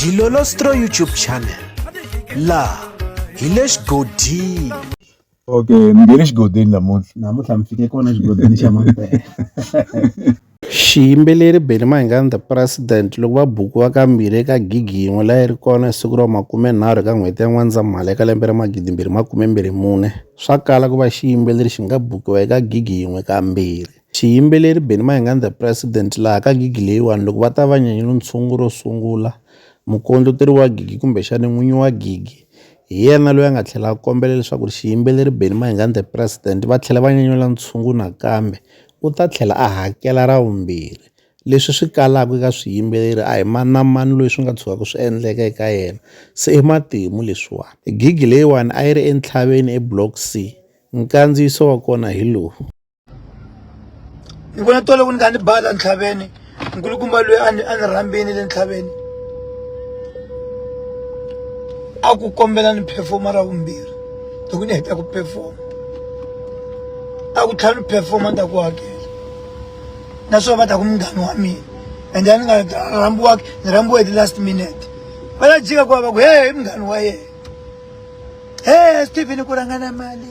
Dilolostro YouTube channel laha hi le xigodini okay ni nge le xigodini namuntlha namuntlha mi fike kona xigodini xa mampela xiyimbeleri benny mahingani the president loko va bukiwa kambirhi eka gigi yin'we layi ri kona hi siku ra makumenharhu eka n'hweti ya n'wandzamhala eka lembe ra magidimbirhi makumembirhi mune swa kala ku va xiyimbeleri xi nga bukiwa eka gigi yin'we kambirhi Xiyimbeleri Benny Mayengani and the President laha ka gigi leyiwani loko va ta va nyanyula ntshungu ro sungula mukondleteri wa gigi kumbexana n'winyi wa gigi hi yena loyi a nga tlhela a kombela leswaku xiyimbeleri Benny Mayengani and the President va tlhela va nyanyula ntshungu nakambe u ta tlhela a hakela ra vumbirhi leswi swi kalaka eka swiyimbeleri a hi mani na mani loyi swi nga tshukaka swi endleka eka yena se i matimu leswiwani gigi leyiwani a yi ri entshaveni eBlock C nkandziyiso wa kona hi lowu. ni vona tole ku ni ka ni bala ntlhaveni nkulukumba loyi a ni a ni rhambini le ntlhaveni a ku kombela ni phefoma ra vumbirhi loko ni heta ku phefoma a ku tlhela ni phefoma ni ta ku hakela naswona va ta ku munghani wa mina ende a ni nga rhambiwaki ni rhambiwe hi ti-last minute va la jika ku va va ku he i munghani wa yena he stephen ku rhangana mali